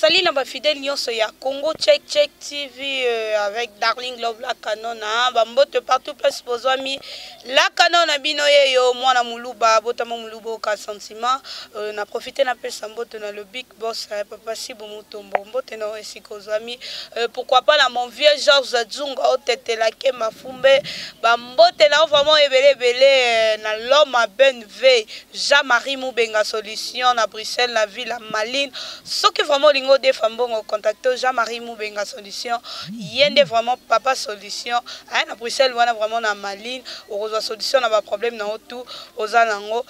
Salut na ba fidèles nyonso ya Congo Check Check TV euh, avec Darling Love la canona hein. ba mbote partout place bozwami la canona bino yeyo mwana muluba botama muluba ka sentiment euh, na profiter na pesa mbote na le big Boss eh, papa Sibu Mutombo, mbote na esika ozwami. Euh, pourquoi pas na mon vieux Georges Adzunga otetela ke mafumbe. Ba mbote na vraiment ebele ebele euh, na l'homme à bonne veille. Jean-Marie Mubenga solution na Bruxelles na ville Maline. Soki vraiment olingo defa mbongo contacte Jean-Marie Mubenga solution. Yende vraiment papa solution. Aya na Bruxelles wana vraiment na Maline okozwa solution na ba problème na tout oza nango.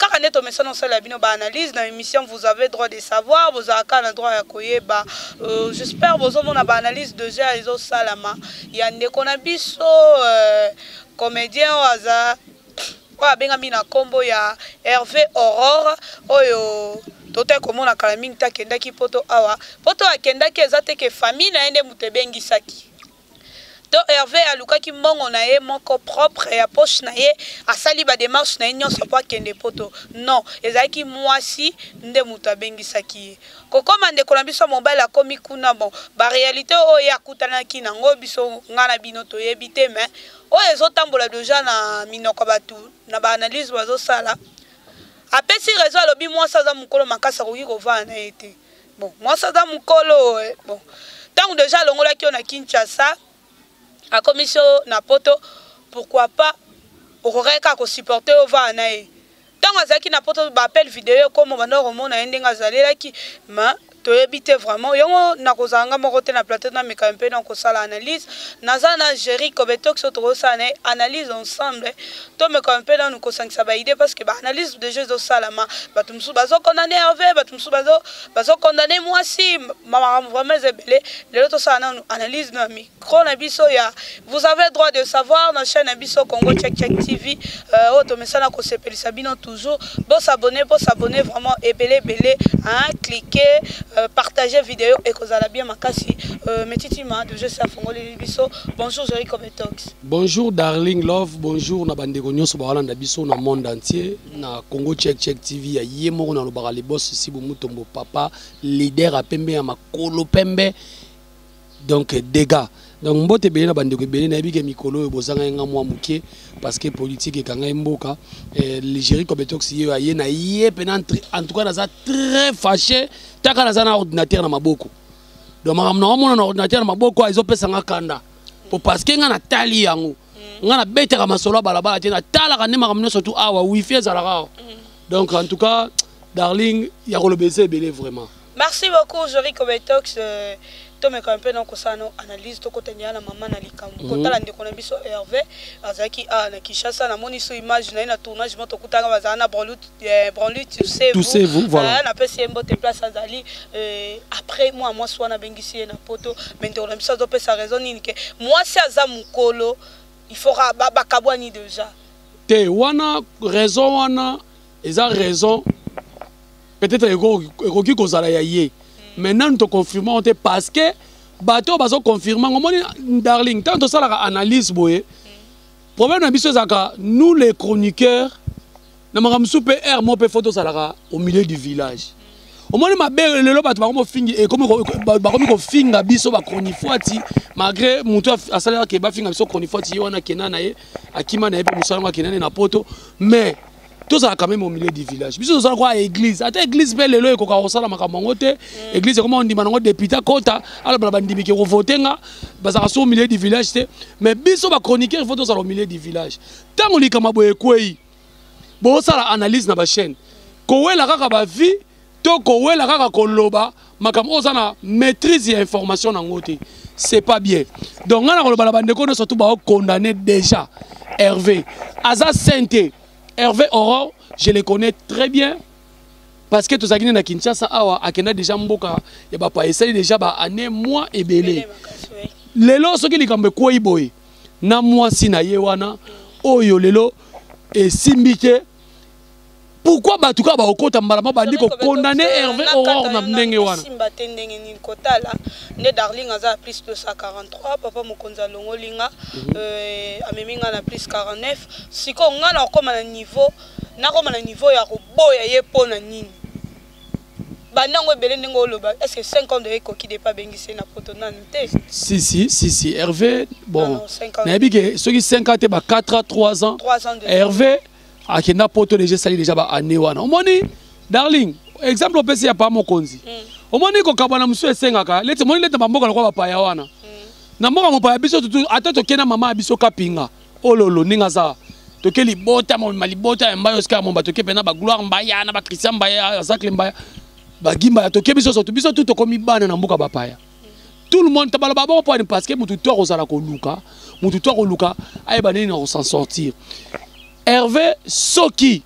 kaka nde tomesana osala ya bino baanalyse na émission vous avez droit de savoir bozala kaka na droit ya koyeba euh, j'espère bozomona baanalyse déjà ezosalama ya ndeko na biso euh, comédien oyo aza oyo abengami na nkombo ya herve aurore oyo totali komona kala mingi te akendaki poto awa poto akendaki eza te ke famille na ye nde moto ebengisaki To Herve alukaki mbongo na ye moko propre ya poche na ye, asali ba demarches na ye nionso mpo akende poto? Non, ezalaki muasi nde mutu abengisaki ye. Kokoma ndeko na biso ya mobali akomi kuna, bon, ba realites oyo ye akutanaki nango biso, nga na bino toyebi te, mais oyo ezo tambola dejà na minoko ya batu na ba analyses bazo sala, apesi raison, alobi muasi aza mukolo makasi akoki kovanda na ye te. bon mwasi aza mokolo eh, bon ntango deja alongolaki yo na kinshasa akomisi yo na poto pourquoi pas okokaki kaka kosupporte yo vaa na ye ntango azalaki na poto baappel video ekoma banda komona ye ndenge azalelaki ma toyebi te vraiment yango nakozala nga moko te na plateau nameka mpe na kosala analyse naza na géri kobetoxo tokosala na ye analyse ensemble tomeka mpe nanu kosangisa ba idée parce que ba analyse déjà ezosalama bato mosusu bazokondane herve bato mosusu bazokondane mwasi makambo vraiment eza ebele lelo tosala nanu analyse na micro na biso ya vous avez droit de savoir na chaîne na biso congo check check tv euh, oyo tomesana kosepelisa bino toujours bosabone bosabone vraiment ebele ebele clike euh, partage video ekozala bien makasi euh, metitima deje se afongoleli biso bonjour jerico betox Bonjour Darling Love, bonjour na bandeko nyonso bawalanda biso na monde entier na Congo Check Check TV ya ye moko na lobaka le boss Sibu Mutombo papa leader a pembe ya makolo pembe donc dégâts donc mbote ebele na bandeko ebele nayebi ke mikolo oyo bozangai nga mwa moke parce que politique ekangai mboka eh, ligeri competox ye aye na ye mpena en tout cas naza très fâché taka naza na ordinateur na maboko donc makambo na omona na ordinateur na maboko ezopesa nga kanda po parce que nga natali yango mm. nga nabetaka masolo ya balabala te natalaka nde makambo nyonso tu awa wifi ezalaka awa mm. donc en tout cas darling ya koloba eza ebele vraiment merci beaucoup jori kobetox euh, tomeka mpe na kosala na analyse tokotendela na mama na likambo mhm. kotala ndeko na biso herve azalaki awa na kinshasa namoni so image na ye na tournage mo tokutanga bazala na brolute Eh, branly tu sais tu sais vous voilà euh, na pesi ye mbote place azali euh, après moi mwasi wana abengisi ye na poto mais ndeko na biso azopesa raison nini ke mwasi aza mokolo il faut bakabwani déjà te wana raison wana eza raison peut-être ekoki kozala ya ye hmm. mais nanu toconfirma te parce que bato oyo bazoconfirma ngo omoni darling ntango tosalaka analyse boye hmm. problème na biso ezalaka nous les chroniqueurs na makambo mosusu mpe aire moko mpe fo tozalaka au milieu du village omoni mabe lelo bato bakomi kofingi eh, bakomi kofinga biso bachronifuati malgré motu asalaka ke bafinga biso chronifuati ye wana akenda na ye akima na ye mpe mosala yango akenda ne na poto mais tozala quand même au milieu du village biso tozala kwa église ata église mpe lelo ekoka kosala makambo yango te mm. église ekoma kondima nango député akota aloba na bandimi ke kovote nga bazalaka so au milieu du village te mais biso bachroniqueur ifo tozala au milieu du village ntango likambo boye ekwei bosala analyse na ba chaîne kowela kaka ba vie to kowela kaka koloba makambo oyo oza na maîtrise ya information nango te c'est pas bien donc ngai nakoloba na bandeko nyonso tu baokondamne déjà herve aza sain te herve aurore je le connais très bien parce que tozalaki nde na kinshasa awa akenda déjà mboka ya bapa esali déjà baannée mois ebele lelo soki likambo ekwei boye na mwasi na ye wana oyo lelo esimbi te pourquoi bato kaka bakokota mbala ma bandi kokondane herve aurore na ndenge wana simba te ndenge nini kotala nde darling aza na plus 243 papa mokonzi alongoli nga mhm. euh, amemi nga na plus 49 sikoyo nga nakokoma na niveau nakoma na niveau ya koboya ye mpo na nini banda yango ebele ndenge oloba est ce que 5 ans de ekoki depa abengisi ye na poto nanu te si si si si herve bon nayebi ke soki 5 ans te ba 4 ans 3 ans herve akenda poto deja esali deja ba année wana omoni darling exemple opesi ya pa mokonzi hmm. omoni kokabwana mosusu esengaka leti omoni leti na bamboka lokola bapaya wana hmm. na mboka mopaya biso ata tokenda mama ya biso kapinga ololo ndenge aza toke libota momema libota ya mbayo sika momba toke mpena bagloire mbaya na bachristien mbaya zacle mbaya bagi mbaya toke biso soto biso tu tokomi bana na mboka bapaya tout le monde tabaloba boko mpani parce que motu to akozala koluka motu to akoluka ayeba nini na kosan sortir herve soki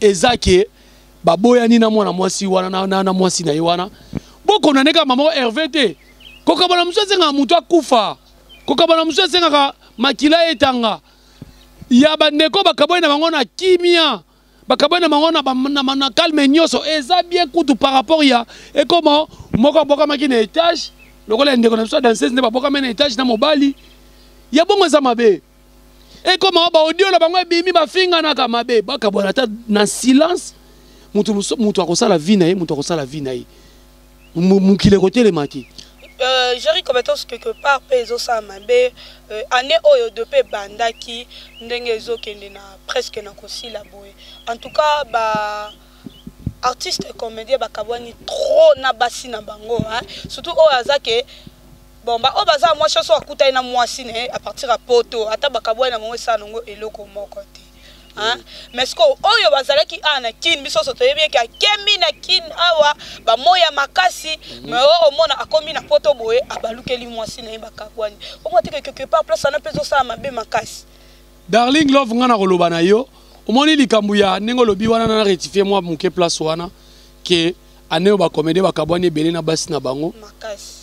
eza ke baboyani na mwana mwasi wana na, na, na mwasi na ye wana bokonaneka mama herve te kokabana mosusu azengaka motu akufa kokabana mosusu esengaka makila etanga ya bandeko bakabwani na bango na kimia bakabwani na bango na calme nyonso eza bien kutu par rapport ya ekoma moko abokamaki na etage lokola ya ndeko na biso ya danseuse nde babokami na etage na mobali ya bongo eza mabe ekoma baaudio na bango ebimi bafinganaka mabe bakabwana ata na silence moto akosala vi na ye moto akosala vi na ye mokili ekotelema te euh, jerry compétence quelque part mpe ezosala mabe euh, année oyo de mpe ebandaki ndenge ezokende na presque na kosila boye en tout cas ba artiste et comédien bakabwani trop na basi na bango hein? surtout oyo aza ke bon baoyo baza mwasi oso akutani na mwasi na ye à partir ya poto ata bakabwani na bango esala nango eloko moko te Hein? mais sikoyo oyo bazalaki awa na kin biso nyonso toyebi eke akemi na kin awa bamoi ya makasi mhm. mais oyo omona akomi na poto boye abalukeli mwasi na ye bakabwani omona teke quelque part place wana mpe ezosala mabe makasi darling love ngai nakoloba na yo omoni likambo ya ndenge olobi wana na rectifie mwa moke place wana ke ane oyo bakomede bakabwani ebele na basi na bango makasi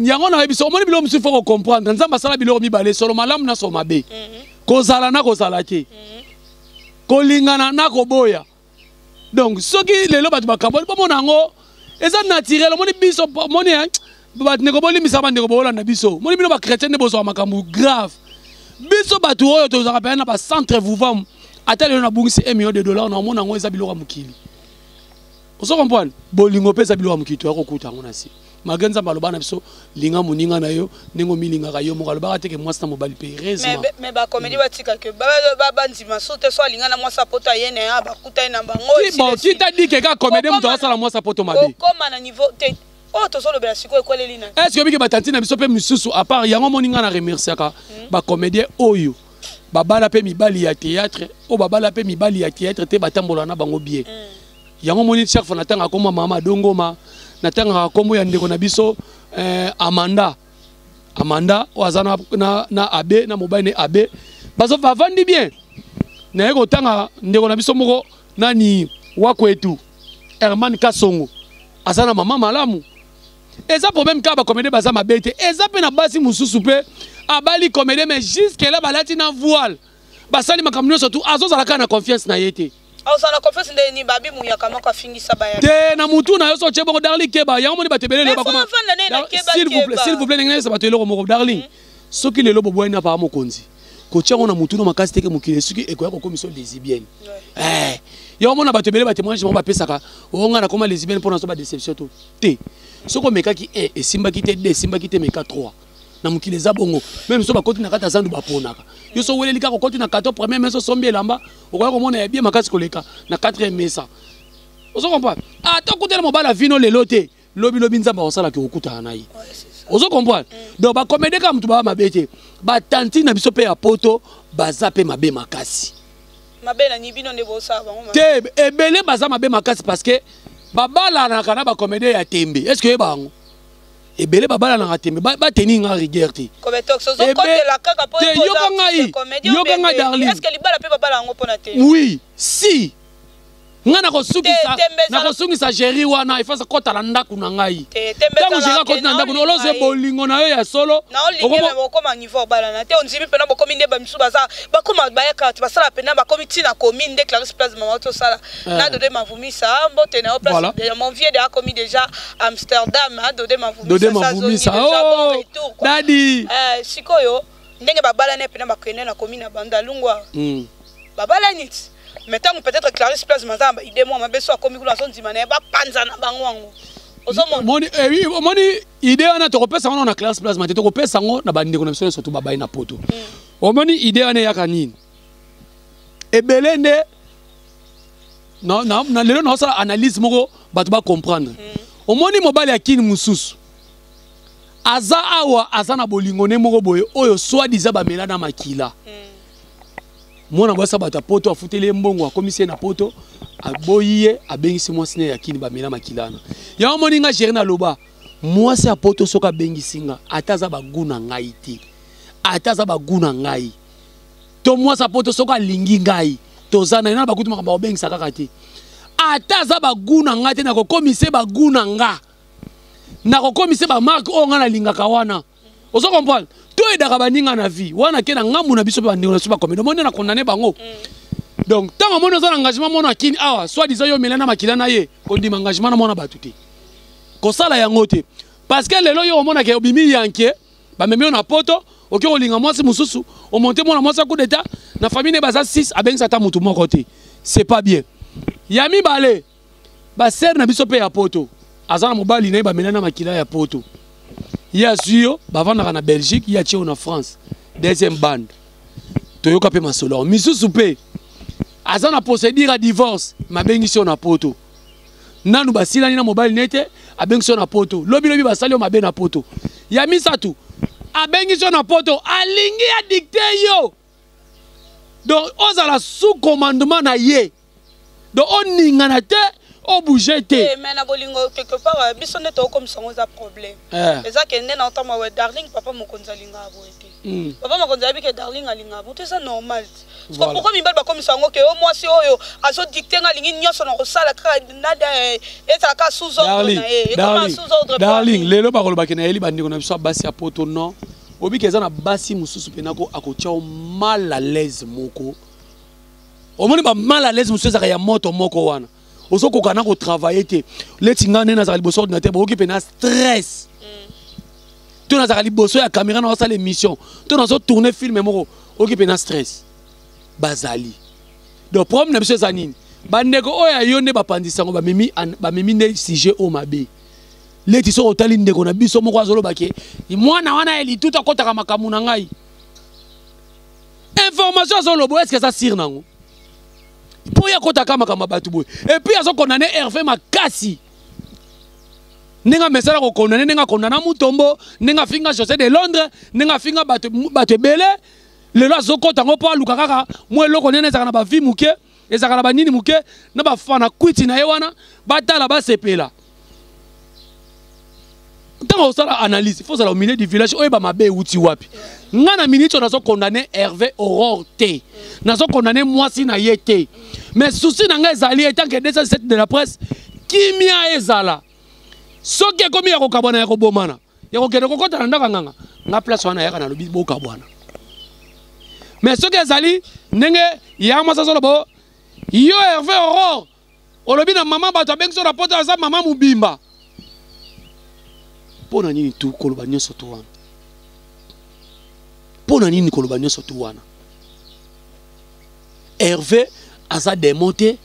yango na yebisa omoni biloko mosusu faut kocomprendre nzambe asala biloko mibale solo malamu na solo mabe mhm. kozala na kozala te mhm. kolingana na koboya donc soki lelo bato bakaboli bomona yango eza naturel omoni biso moni eh, bato ndeko bolimbisa bandeko boolanda biso moni bino bachrétien nde bozwa makambo grave biso bato oyo tozalaka mpenza na bacentre vouvam ata lelo nabungisi 1 million de dollar na omona yango eza biloko ya mokili ozo comprendre bolingo mpe eza biloko ya mokili toya kokuta yango na se malgré nzambe aloba na biso linga moninga na yo ndenge omilingaka yo moko alobaka te ke mwasi na mobali mpe heureusement bakomedi mm. batika ke bandima so te so alinga na mwasi apoto aye na ya bakuta ye na bango kita dike kaka komedi moto asala mwasi apoto mabe okoma na niveau te oyo oh, tozolobela sikoyo ekweleli na est ce que obiki batanti na biso mpe mosusu apart yango omoni ngai na remerciaka hmm. bacomédien oyo babala mpe mibali ya théâtre oyo babala mpe mibali ya théâtre te batambola na bango bien mm. yango moni chaque fois natanga kombo ya mama dongoma natangaka kombo ya ndeko na biso eh, amanda amanda oyo aza na, na, na abe na mobali ne abe bavandi bien naye kotanga ndeko na biso moko nani wakwetu herman kasongo aza na mama malamu eza problème kaka bakomede baza mabe te eza mpe na basi mosusu mpe abali komede mais jusque la balati na voile basali makambo nyonso tu azozala kaka na confiance na ye te ozala confiance ndenge nini babi muyaka moko afingisa baya te na mutu na yo so otye bongo darling keba yango moni bato ebele lelo bakoma s'il vous plaît s'il vous plaît ndenge nayesa bato eloko moko darling hmm? soki lelo boboyani na papa mokonzi kotya yango na mutu no makasi teke mokili esuki ekoya kokomisa lesibienne eh, yango mona bato ebele batemoignage bango bapesaka oo oh, ngai nakoma lesibienne mpo nazo badéception to te soki omekaki 1 esimbaki te 2 esimbaki te meka 3 na mokili eza bongo meme so bakoti na kati ya zandu baponaka yo so weleli kaka okoti na kato premier mesa osombi elamba okoya komona ya bie makasi koleka na 4 mesa ozo comprendre ata ah, okutana mobali avino lelo te lobilobi nzambe akosalaki okutana na ye ozo comprendre donc bakomede kaka motu baa mabe te batanti na biso mpe ya poto baza mpe mabe makasi te ebele baza mabe makasi parce que babalanaka na bakomede ya tembe est ce que oyeba yango ebele babalanaka te me bateni nga rigueur te yoka ngai yoka ngai darlin oui si ngai nakosungisa géri wana efasa kota na ndako na ngai ntango géri akoti na ndako olozwe bolingo na yo ya solo okoma niveau obalana te ondimi mpena bokomi nde bamisu baza bakoma bayaka basala mpena bakomi ntina komi nde clarisse place mama tosala eh. nadode mavumisa mbote na yo place mon vieux de akomi déjà Amsterdam a dode ma vumisa dode ma vumisa oh dadi eh sikoyo ndenge babala ne pena bakende na commune ya Bandalungwa mm. babala nit mais tango peut-être Clarisse Place maza ba idée moi mabeso akomi kuna so ndima na ba panza na bango wango omoni eh, idée wana tokopesa yango na classe plasma te tokopesa yango na bandeko na biso nyonso to babai na poto mm. omoni idée wana eyaka nini ebele nde na, na, na lelo naosala analyse moko bato bacomprendre mm. omoni mobali ya kini mosusu aza awa aza na bolingo ne moko boye oyo swadiza bamela na makila mm. mwana mwasi ya bato ya poto afuteli ye mbongo akomisi ye na poto aboyi ye abengisi mwasi ne ya kini bamela makila wana yango omoni nga gere naloba mwasi ya poto soki abengisi nga ata aza bagu na ngai te ata aza bagu na ngai to mwasa poto soki alingi ngai toza na ye na bakutu makambo akobengisa kaka te ata aza bagu na ngai te nakokomise bagu na nga nakokomise bamarke oyo ngai nalingaka wana ozo comprendre toyedaka baninga na vie wana ke na ngambu na biso mpe bandeko na biso bakomeli omoni na condamne bango mm. donc ntango omoni oza na engagement mona akini awa soit disant yo omela na makila na ye kondima engagement na mwana bato te kosala yango te parce que lelo yo omonaka obimi yanke bamemi yo na poto oke kolinga mwasi mosusu omonte mwana mwasi ya coup d'état na famille ne baza 6 abengisa ata motu moko te c'est pas bien ya mibale basere na biso mpe ya poto aza na mobali na ye bamela na makila ya poto ye azwi yo bavandaka na belgique ye atye yo na france deuxième bande toyoka mpe masolo yango misusu mpe aza na procédure ya divorce mabengisi yo na poto nanu basilani na mobali na ye te abengisi yo na poto lobilobi basali yo mabe na poto ya misato abengisi yo na poto alingi adikte yo donc ozala sous commandement na ye donc oningana te obouge te eh, mais na bolingo quelque part euh, biso nde tokokomisa yango eza problème eh. eza ke nde na otamwa darling papa mokonzi alingaka boye te Hmm. papa mokonzi ayebi ke darling alinga moto eza normal te soki pourkoi mibali bakomisa yango ke o mwasi oyo azodikte nga alingi nyonso na kosala kaka eh, ezala kaka sous ordre na ye ekoma sous ordre darling lelo bakolobaki nayeli bandeko na biso ya basi ya poto non obiki eza na basi mosusu mpena ko akotya o mal à l'aise moko omoni ba mal à l'aise mosusu ezalaka ya moto moko wana ozokoka na kotravaille te leti ngai nde nazalaka liboso ordinateur boyoki mpe na stress to nazalaka liboso ya kamera na osala émission to nazotourne filme moko oyoki mpe na stress bazali donc problème na biso eza nini bandeko oyo ya yo nde bapanzi sango bamemi bamemi nde sujet oyo mabe leti soki otali ndeko na biso moko azoloba ke mwana wana ya litutu akɔtaka makambo na ngai information azoloba eske eza sire nango mpo ye akotaka makambo ya bato boye epuis azokondane herve makasi ndenge amesana kokondane ndenge akondana mutombo ndenge afinga josé de londres ndenge afinga bato ebele lelo azokota yango mpo aluka kaka mwa eloko nene ezalaka na bavi moke ezalaka na banini moke na bafana kwiti na ye wana batala basepela ntango osala analyse faut ozala au milieu du village oyeba mabe euti wapi ngai na miniti oyo nazo condamne herve aurore te nazo condamne mwasi na ye te mais souci na ngai ezali etanke 207 de la presse kimia ezala soki ekomi ya kokabwana ya kobomana ya kokende kokɔta na ndako ya nganga nga place wana yaka nalobi bokabwana mais soki ezali ndenge ya mwasi azoloba yo herve aurore olobi na mama bato abengi so na poto aza mama mobimba mpo na nini tu koloba nyonso tu wana mpo na nini koloba nyonso tu wana herve aza demo te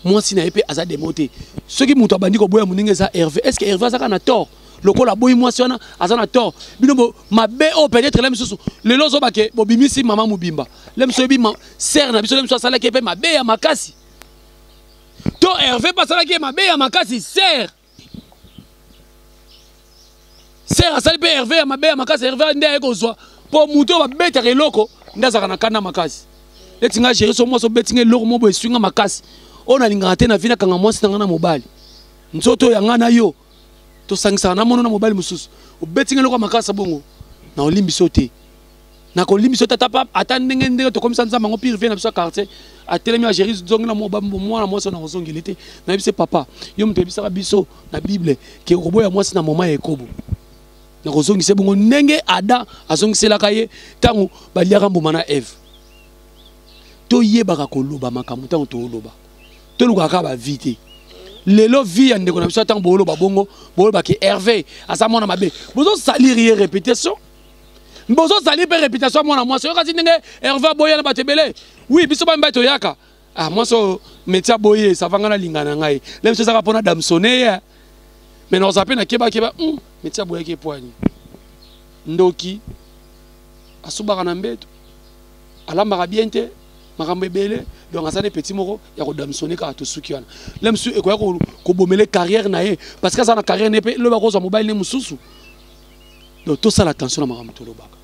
mwasi na ye mpe aza demo te soki moto abandi koboya moninga eza herve est ce que herve azaka na tort lokola aboyi mwasi wana aza na tort bino mabe oyo peut-être la misusu lelo ozobake bobimisi mama mobimba la misu oyebi sere na biso la misu asalaki ye mpe mabe ya makasi to herve mpe asalaki ye mabe ya makasi ser ser asali mpe herve ya mabe ya makasi herve nde aye kozwa mpo moto oyo babetaka eloko nde azalaka na kanda makasi neti ngai géri so mwasi obeti ngai eloko moko boye eswi ngai makasi oyo nalingaka te na vi nakanga mwasi na ngai na mobali nzoto oyo ya ngai na yo tosangisaka na mono na mobali mosusu obeti ngai eloko ya makasa bongo na olimbisi yo te nakolimbisi yo te ata ndenge ndenge tokomisa nzambe yango pire vie na biso ya quartier atelemi ageri zongi na mwana mwasi na kozongeli te nayebisi papa yo moto oyebisaka biso na bible ke okoboya mwasi na moma ya ekobo nakozongisa ye bongo ndenge adam azongiselaka ye ntango baliaka mbuma na eve toyebaka koloba makambo ntango tooloba tolukaka kaka bavie te lelo vie ya ndeko na biso ntango booloba bongo booloba ke herve aza mwana mabe bozosalir ye réputation bozosalir mpe réputation ya mwana mwasi oyokasi ndenge herve aboya na bato ebele wi biso bamibali toyaka ah mwasi oyo metia boye savanga na linga na ngai na biso ezaka mpo na damsone ye me na oza mpe na kebakeba hmm, metia boyaki epoani ndoki asubaka na mbeto alambaka bien te makambo ebele donc aza ne petit moko ya kodamsone kaka tosuki wana le mosusu ekoya kobomele carrière na ye parce que aza na carrière na ye mpe loba kozwa mobali ne mosusu donc tosala attention na makambo tolobaka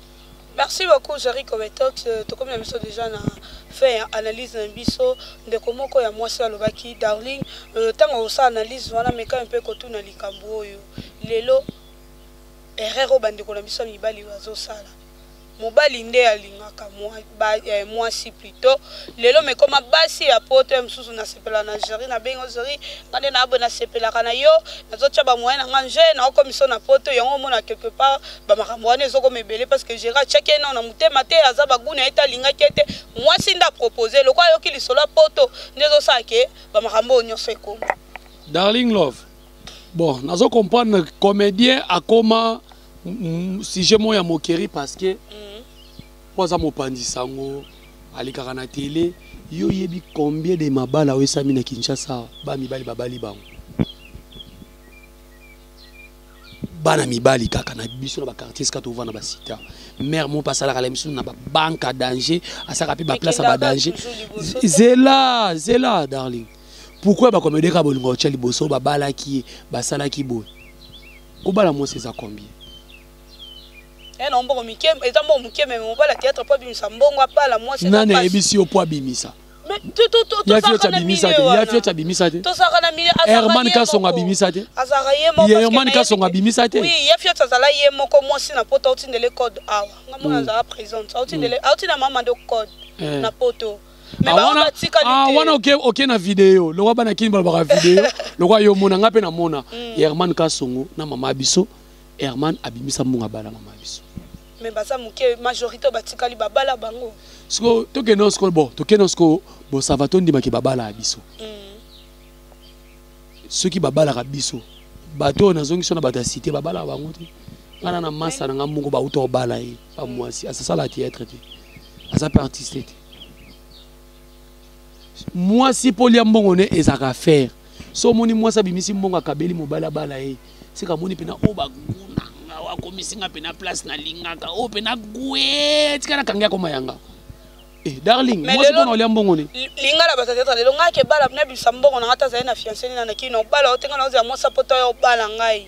merci beaucoup jari kobetox euh, tokomi na biso déjà na fin ya analyse na biso ndeko moko ya mwasi alobaki darling ntango euh, osala analyse wana mekami mpe kotuna likambo oyo lelo erreur oyo bandeko na biso ya mibali bazosala mobali nde alingaka eh, mwasi plutot lelo mekoma basi ya poto ya mosusu nasepela na jeri na bengo jeri nga nde naboye nasepelaka na yo nazotya bamoye na nga nje naokomiso na poto yango omona quelque part bamakambo wana ezokoma ebele parce que jeri atyaki eno na motema te aza bagu na ye te alingaki ete mwasi nde apropose lokola ayoki lisolo ya poto nde ezosala ke bamakambo oyo nyonso ekoma darling love bon nazo comprendre comédien akoma sujet moko ya moquerie parce que mm. po aza mopanzi sango alekaka na tele yo oyebi combien de mabala oyo esami na kinshasa ba mibali babali bango bana mibali kaka na biso na bakartier esika tovanda basita mare moko mpe asalaka la misu na babanke a danger asalaka mpe baplace ya badanger zela zela darling pourkoi bakomedeka bolingo otya liboso babalaki ye basalaki boye Kobala mwasi eza combien? Eh non mbongo mike eza mbongo mike mais mobala théâtre po abimisa mbongo apala mwasi eza Nani ayebisi yo po abimisa? tosaka na milieuherman kasongo abimisa te herman kasongo abimisa te ye fiot azala ye moko mwasi na poto autindele code awa nga mwana azala présente auti na mama nde code na poto Ah, wana ah, wana oke oke na video lokwa bana kini balobaka video lokwa yo mona nga mpe namona mm. herman kasongo na mama biso herman abimisa mbongo abala mama biso me baza moke majorité oyo batikali babala bango siko tokende siko bo tokende siko bosava tondimaki babala ya biso mm. soki babalaka biso bato oyo nazongi so na bato ya site babalaka bango te ngana na masa na ngai moko bauta obala ye ba mwasi asasala theatre te aza mpe artiste te mwasi mpo lia mbongo ne ezalaka faire so omoni mwasi abimisi mbongo akabeli mobali abala ye sika amoni mpena oyo baguna nga wakomisi nga mpena place nalingaka oyo mpena gwe tika nakangi akoma yanga Eh, darling mwasi mpona olia mbongo ni linga na batatata lelo ngai akebala na bisa mbongo na ngai tazali na fianceni na nakino obala otenga na ozela mwasi apota yo obala ngai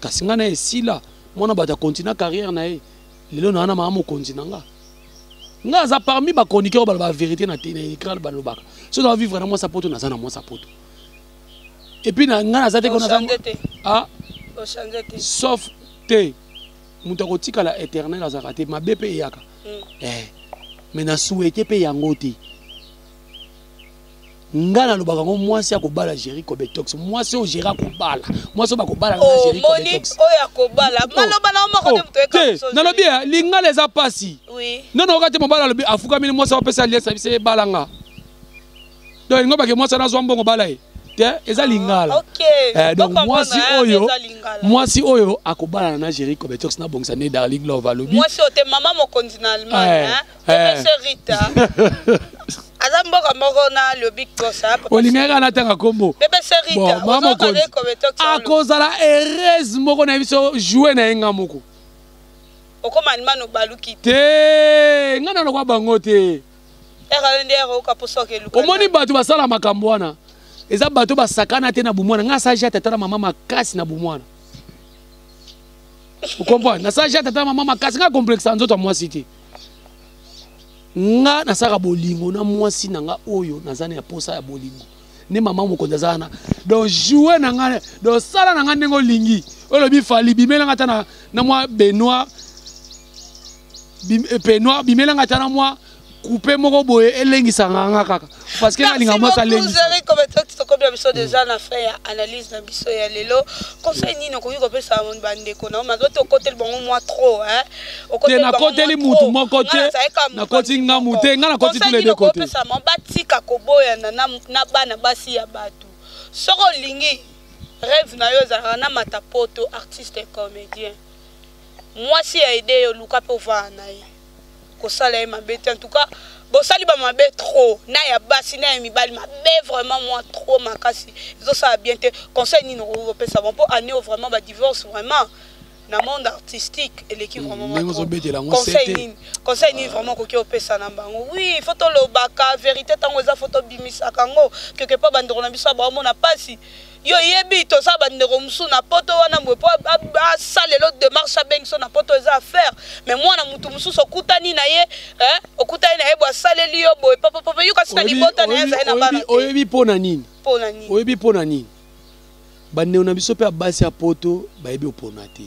kasi ngai na esila mwana bato akontina carrière na ye lelo na wana maa mokonzi na nga ngai aza parmi bachroniqueur oyo baloba verité na écran balobaka so na bavivre na mwasa poto naza na mwasa poto epuis ngai naza te ah? sauf te moto akotikala éternel azalaka te mabe mpe eyaka hmm. eh. mais na souhaite mpe yango te nga nalobaka ngo mwasi akobala géri cobetox mwasi oyo géri akobala mwasi oyo bakobala na oh, géri cobetox oyo akobala oh, maloba na moko te oh, moto te nalobi ya lingala eza pasi nono oka te mobala alobi afukami ni mwasi apesa liesa bise ebala nga donc elingo bake mwasi wana azwa mbongo bala ye te eza lingala ah, eh, donc mwasi ah, oyo mwasi oyo akobalana na géri cobetox na bongisa nde darling love alobi mwasi oyo te mama mokonzi na allemagne eh. Eh. Rita. aza mboka moko na lobi kosa olingaki kaka natanga nkombo mama mokonzi akozala heureuse moko na biso joue na ye nga moko okoma animano baluki te nga na lokwa bango te omoni bato basala makambo wana eza bato basakana te na bomwana nga asala jate ata na mama makasi na bomwana okomprendre nasala jate ata na mama makasi nga complexe ya nzoto ya mwasi te nga nasaka bolingo na mwasi na nga oyo naza na posa ya bolingo nde mama mokonzi aza wana donc joue na nga donc sala na nga ndenge olingi olobi fali bimela nga ata na, na mwa benoir bim, eh, benoir bimela nga ata na mwa kupe moko boye elengisaka nga kaka parce que nalinga mwasi alendisazeri kometo tokomi na biso deja na fin ya analyse na biso ya lelo conseil nini okoki kopesa bandeko na mazo te okoteli bango mwa trop te nakoteli mutu moko te nakoti ngamu te ngai nakoti tule de kote batika koboyana na bana basi ya bato soki olingi rêve na yo ezalaka na mata poto artiste comédien mwasi ya ede yo luka mpe ovaa na ye kosala ye mabe te en tout cas bosali bamabe trop na ya basi na ya mibali mabe vraiment mwa trop makasi ezosala bien te conseil nini okoki kopesa bango mpo année oyo vraiment badivorce vraiment na monde artistique eleki hmm, vraimentconseil nini conseil nini vraiment okoki opesa na bango oui fo tolobaka vérité ntango eza fo tobimisaka yango quelque part bandeko na biso ya baomona mpasi yo yebi toza bandeko mosusu na poto wana boye mpo asala lelo demarche abengi so na poto eza affaire mais mwana motu mosusu okutani na ye eh, okutani na ye boye asaleli yo boye papapapa yo kasi na libota na ye azali na bana oyebi mpo na nini oyebi mpo na nini bandeko na biso mpe ya basi ya poto bayebi opona te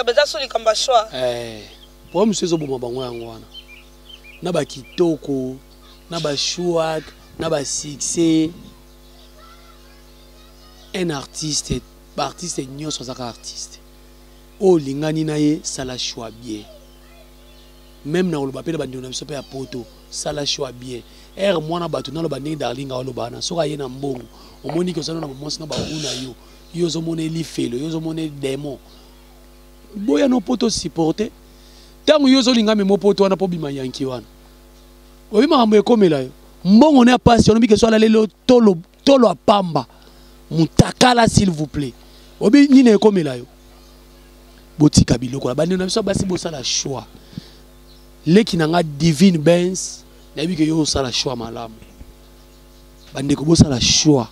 baza so likambo ya shwa eh, po mosusu ezoboma bango yango wana na bakitoko na bashwak na basuccès un artiste baartiste nyonso azaka artiste oyo olingani na ye sala choix bien meme na koloba mpe na bandeko na biso mpe ya poto sala choix bien ere mwana bato naloba ndenge darling aoloba wana soki aye na mbongo omoni ke ozana na bamwasi na baku na yo yo ozomona elifelo yo ozomona edemon boya no poto supporte ntango yo ozolinga mema poto wana mpo bima yanki wana oyebi makambo ekomela yo mbongo ne ya pasi olobi ke so alaleli tolo tolo apamba mutakala s'il vous plaît obi nini ekomela yo botika biloko na bandeko na biso basi bosala choix leki na nga divine bens nayebi ke yo osala choix malamu bandeko bosala choix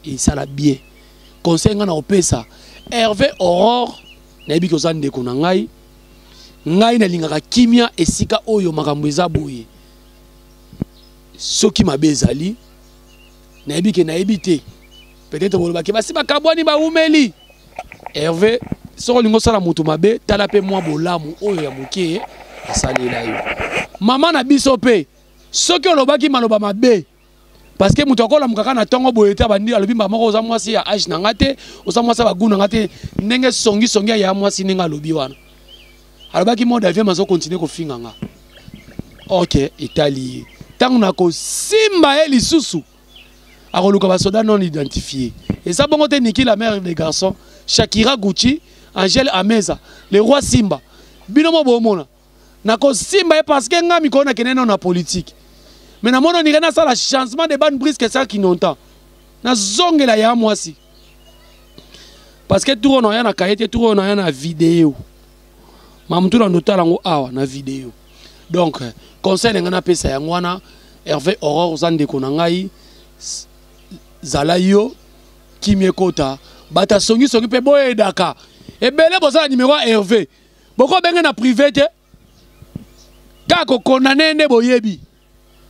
esala bien conseil ngai na kopesa herve aurore nayebi ke oza ndeko na ngai ngai nalingaka kimia esika oyo makambo eza boye soki mabe ezali nayebi ke nayebi te peut-être bolobaki basi bakabwani baumeli herve soki olingi osala moto mabe tala mpe mwa bolamu oyo ya moke asalela yo mama na biso mpe soki olobaki maloba mabe parce que moto akolamuka kaka na ntongo boye te abandi alobi mbala moko oza mwasi ya age na ngai te oza mwasi ya bagu na ngai te ndenge songisongi aya mwasi ndenge alobi wana alobaki mode aviam azokontinue kofinga nga ok etali ye ntango nakosimba ye lisusu akoluka basoda non identifie eza bongo te niki la mère des garçons shakira gucci angèle ameza le roi simba bino mo bomona nakosimba ye parce que nga mikolo nakende nao na politique mais namoni onire nasala changement de bane brisque sa kinontan nazongela ya mwasi parce que tour oyo naya na kaye te tour oyo naya na video mamutu na ndotala yango awa na video donc conseil na ngai napesa yango wana herve aurore oza ndeko na ngai zala yo kimia ekota bato asongisongi mpe boyedaka ebele bozala nimero ya herve boko benge na privé te kaka kokondane nde boyebi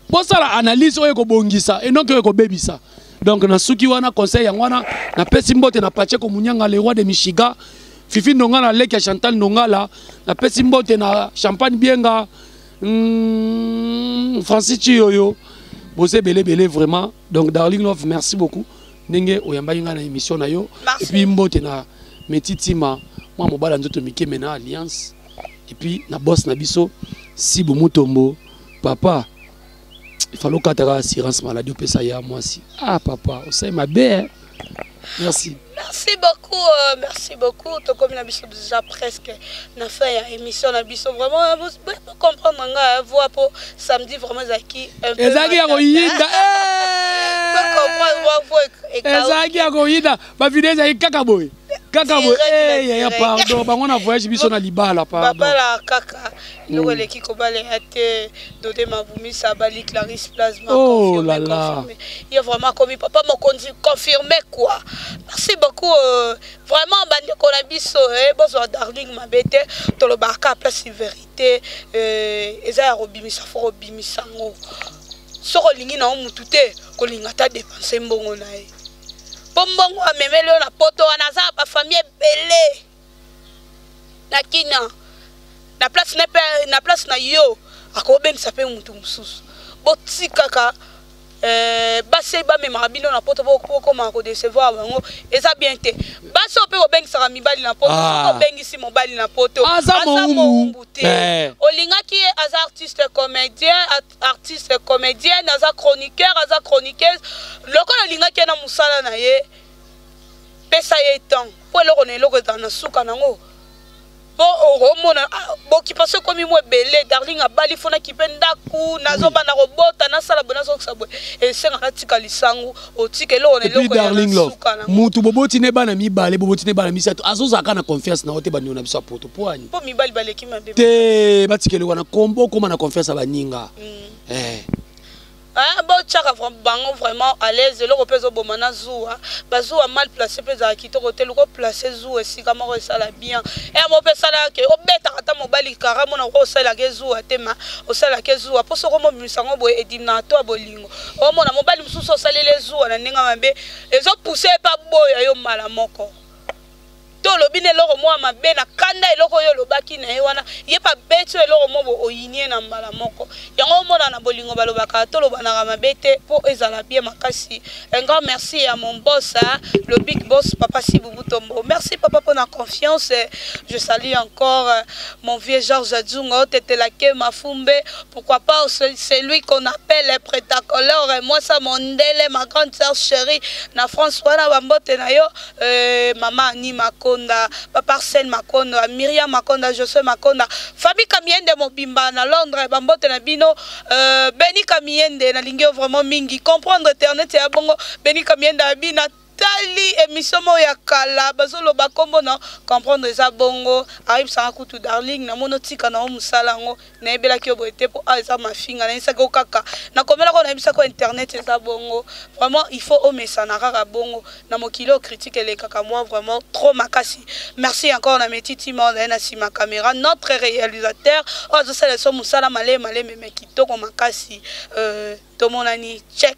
bosala analyse oyo ekobongisa et non oyo ekobebisa donc nasuki wana conseil yango wana napesi mbote na pacheko munyanga le roi de michiga fifi ndongala leki ya chantal ndongala napesi mbote na champagne bienga mm, francis ciyoyo boza ebelebele vraiment donc darling love merci beaucoup ndenge oyambaki ngai na émission na yo et puis mbote na metitima mwa mobala nzoto mike me na alliance et puis na boss na biso sibu mutombo papa ifale okataka assurance maladie opesa ya mwasi ah papa osali mabe eh? merci merci beaucoup euh, merci beaucoup tokomi na biso déjà presque na fin ya émission na biso vraiment comprendre nga hein, voix po samedi vraiment ezalaki un peu ezalaki ya koyinda ezalaki ya koyinda bavideo ezalaki kaka boye kaka boye eh, yaya pardon bango na voyage biso na libala pardonbabala kaka eloko hmm. eleki kobala ya te dode mabumisa bali clarisse plasma oh là là ye vraiment akomi papa mokonzi confirme quoi merci beaucoup euh, vraiment bandeko na biso eh, bozwa darling mabe te tolobaka kaka place verité eh, eza ya kobimisa fo kobimisa yango soki olingi na yo motu te kolinga ata depense mbongo na ye mpo mbongo amemeli yo na poto wana aza na bafamille ebele na kina na place na, na, place na yo akobengisa mpe motu mosusu botikaka Eh, basi oyo bamemaka bino na poto bokomaka kodecevoir bango eza bien te basi oyo mpe kobengisaka mibali na poto ah. soki obengisi mobali na poto aza mowumbu te eh. olingaki ye aza artiste comédien artiste comédienne aza chroniqueur aza chroniqueuse lokola olingaki ye na mosala na ye pesa ye temps mpo eloko na eloko ezala na suka nango po okomona ah, bokipation ekomi mwa ebele darling abali fo nakipe ndako nazoba na kobota nasala boye nazokisa boye esenga natika lisangu otika eloko na eloko darling love motu boboti ne bana mibale boboti ne bana misato azozalaka na confiance na yo te bandeko na biso ya poto po ani po mibali baleki mabe te batika eloko na kombo okoma na confiance ya baninga mm. eh. Hein, bo tchaka vraiment bango vraiment à l'aise eloko pe zo boma na zuwa ba zuwa mal placé pe za kitoko te luko placé zuwa esika moko esala bien et eh, mo pe sala ke obeta kata mobali kara mona ko sala ke zuwa te ma osala ke zuwa po soko mo bimisa ngo bo edimna to bolingo o mona mobali mususu osalele zuwa na ninga mabe ezo pousser pa boya yo mala moko to olobi na eloko moko ya mabe na kanda eloko oyo olobaki na ye wana ye mpe abeti oyo eloko moko booyini ye na mbala moko yango omona na bolingo balobaka tolobanaka mabe te mpo ezala bie makasi encore merci ya mon bos le big bos papa sibubutombo merci papa mpo na confiance je salue encore mon vieux george adzungo tetelake mafumbe pourquoi pas celui qu'on appelle pretacolore moi sa mondele ma grande sœur chérie na france wana bambote na yo Euh, mama ani makonda papa arsène makonda miriam makonda josue makonda famille kamiende mobimba na londres bambote na bino euh, beni kamiende nalingi yo vraiment mingi comprendre internet ya bongo beni kamiende abi na tali émission moko ya kala bazoloba nkombo na comprendre eza bongo ayebisanga kutu darling namoni otika na yo mosala yango nayebelaki yo boye te mpo awa eza mafinga nayebisaki yo kaka nakomelaka oyo nayebisaki yo internet eza bongo vraiment il faut omesana kaka bongo na mokili oyo critique elekaka mwa vraiment trop makasi merci encore na metitima ozali na nsima caméra notre réalisateur oyo azosala biso mosala malemi malemi me kitoko makasi euh, tomonani check